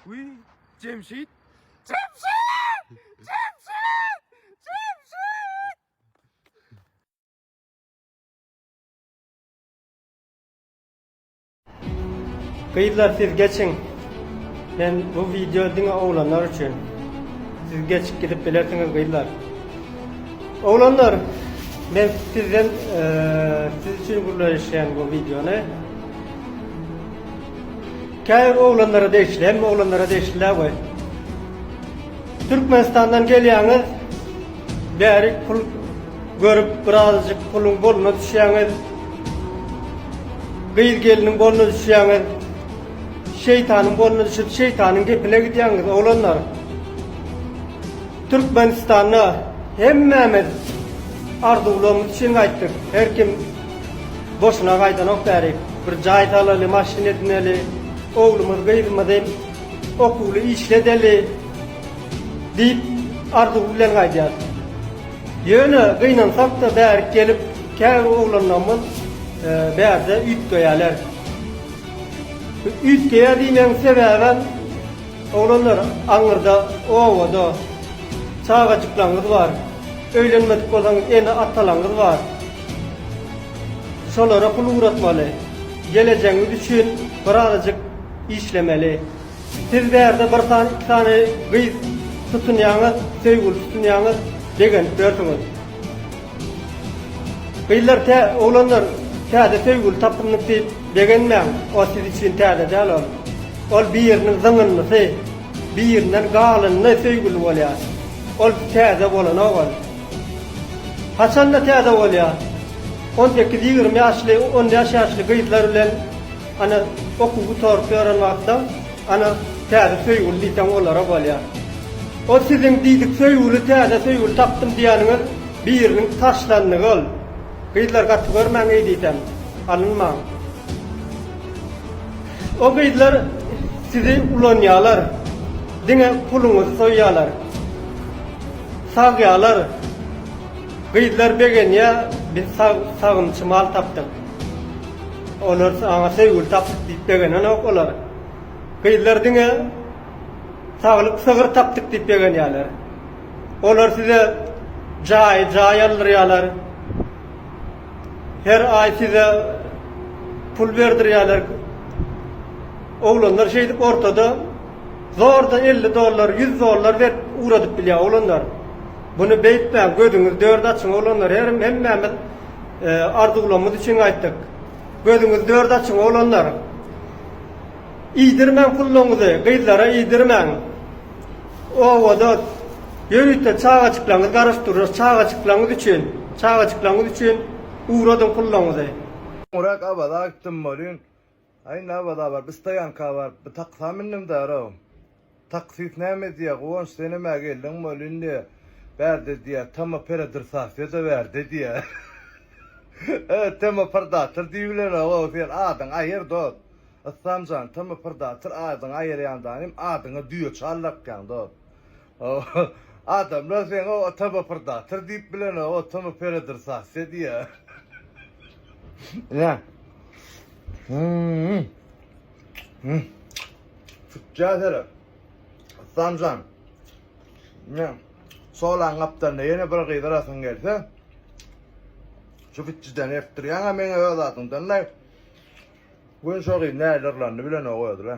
Wiý, Jemşit! Jemşit! Jemşit! Jemşit! Gyzlar siz geçiň. Men bu wideo diňe oglanlar üçin. Siz geçip gidip bilersiňiz gyzlar. Oglanlar, men sizden eee, siz üçin gürleşýän bu wideony. Käbir oglanlara degişli, hemme oglanlara degişli däl we Türkmenistandan gelýäňiz, bäri pul görüp birazajyk puluň goluna düşýäňiz, gyz geliniň goluna düşýäňiz, şeýtanyň goluna düşüp şeýtanyň gepine gidýäňiz oglanlar. Türkmenistanda hemmämiz arzuwlarymyz üçin gaýtdyk, her kim Boşuna gaýdanok bärik. Bir jaý salaly, maşyn edineli. Oglumyz, gyzymyz hem okuwly işledeli diýip, arzuw bilen gaýdýarys. Ýöne gynansak-da bärik gelip, käbir oglanlarymyz bärde üýtgeýärler. Üýtgeýär diýmegiň sebäbem, oglanlar, aňyrda, obada çagajyklaryňyz bar. Öýlenmedik bolsaňyz, ene-atalaryňyz bar. Şolara pul ugratmaly. Gelejegiňiz üçin birazajyk işlemeli. Siz bärde bir sany iki sany gyz tutunýaňyz, söýgüli tutunýaňyz, begenip ýörsiňiz. Gyzlar tä oglanlar täze söýgüli tapyndyk diýip begenmäň, o siz üçin täze däl ol. Ol biriniň zyňyndysy, birinden galyndy söýgüli bolýar. Ol täze bolanok ol. Haçanda täze bolýar. On sekiz-ýigrimi ýaşly, on bäş ýaşly gyzlar bilen ana okuw gutaryp ýören wagtda ana täze söýgüli diýseň olara bolýar. Ol siziň diýdik söýgüli täze söýgüli tapdym diýeniňiz biriniň taşlandygy ol. Gyzlar gaty görmäň eý diýsem. Alynmaň. O gyzlar sizi ulanýalar. Diňe puluňyzy soýýalar. Sagyalar gyzlar begenýä biz sagymçy mal tapdyk olar saňa söýgüli tapdyk diýip begenenok olar gyzlar diňe saglyk sygyr tapdyk diýip begenýäler olar size jaýy jaý aldyrýalar her aý size pul berdirýäler oglanlar şeýdip ortada zorda elli dollar, ýüz dollar berip ugradyp bilýär oglanlar. Buny beýtmäň, gözüňizi dört açyň oglanlar, herim hemmämiz arzuwlamyz üçin aýtdyk. Gözüňizi dört açyň oglanlar. Iýdirmäň pullaňyzy, gyzlara iýdirmäň. Obada ýörite çagajyklaňyz garaşyp durlar, çagajyklaňyz üçin, çagajyklaňyz üçin ugradyň pullaňyzy. Soňrak Awaza aýtdym welin, Aý näbada bar bir stoýanka baryp bir taksam mindim därow. Taksist näme diýýär Guwanç sen nämä geldiň bol indi bärde diýýär tama peredrasasiýada bärde diýýär. Ä tama prdator diýibilenogow sen adyňy aýyr dost. Islamjan tama prdator adyňy aýyrýandanym adyňa düýe çal dakýaň dost. Adamlar seň o ota bopurdator diýip bilen o otamy peredrsasiýa diýýär. Ine. Hmm. Hmm. Tutja sere. Sanjan. Ne? Solan gapdalynda ýene bir gyz arasyn gelse. Şu bitçiden ertdirýän ha meňe öz adyňdan da. Gün şo gyz nälerlendi bilen o özle.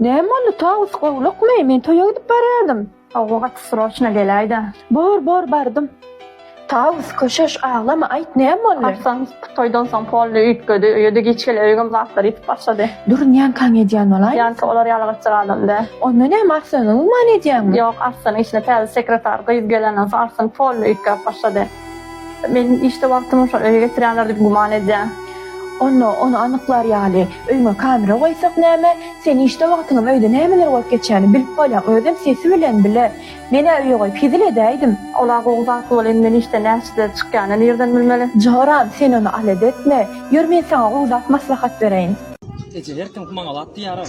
Näme boldy, Tawus gowlukmy? Men toýa gidip barýardym. Hawa, gaty sroçna geläý-dä. Bor, bor, bardym. Tawus, köşeş, aglama, aýt, näme boldy? Arslan toýdan soň polny üýtgedi. Öýe-de giç geler, öýüňem zatlary ýitip başlady. Dur, ýankaň edýän bolaýmasyn? Ýanka, olar ýaly gytjak adam däl. Onda näme, Arslana güman edýäňmi? Ýok, Arslanyň işine täze sekretar gyz gelenden soň Arslan polny üýtgäp başlady. Men işde wagtymy şol öýe geçirýärler diýip güman edýän. Onda ony anyklar ýaly, öýüňe kamera goýsak näme? Sen işde wagtyňam öýde nämeler bolup geçýäni bilip bolýaň, özem sesi bilen bile. Men-ä öýe goýup hezil edäýdim. Ol-a gowy zatly bol, indi men işden näçede çykýanyny nireden bilmeli? Joram, sen ony alada etme. Ýör men saňa gowy zat maslahat bereýin. Eje, her kim maňa zat diýýär-aý.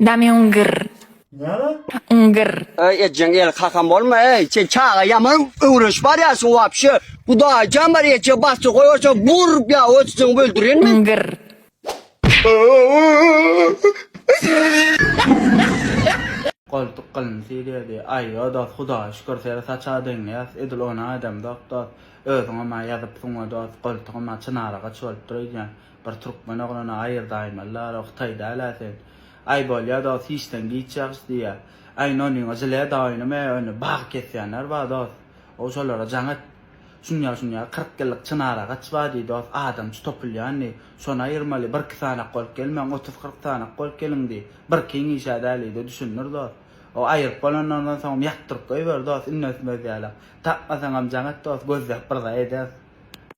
Damyň gyr. Nere? Yň gyr. Öý ejeň el kakam bolma eý sen çaga ýaman öwrenşip barýarsyň wapşe gudaýy jan bar eje bassyr goýarsa burr ýa ötüsiňi öldüren men. Yň gyr. Goltuk gylym sirýedi. Aý ýo dost hudaýa şükür seri saça deňleýäs edil ony aýdamzok dost. Özüňem-ä ýazypsyň we dost goltugym-ä çynaragaç bolupdyr öýdýän. Bir türkmen oglany aýyrdaýmalylar, o hytaý däl-ä sen. Aý bolýa dost hiçden giç ýagşy diýýä. Aý nonyňa žile doýnum e ony bagy kesýänler bar dost. O şolara jaň et. Şunýa şunýa kyrk ýyllyk çynar agaç bar diý dost adamçy topulýan diý. Şony aýyrmaly birki sanak bolup gelmäň otuz kyrk sanak bolup geliň diý. Bir kyn işä däl diý de düşündir dost. O aýyryp bolanlaryndan soňam ýatdyryp goýber dost inne ösmez ýalak. Tapmasaňam jaň et dost gözläp bir zat ederis.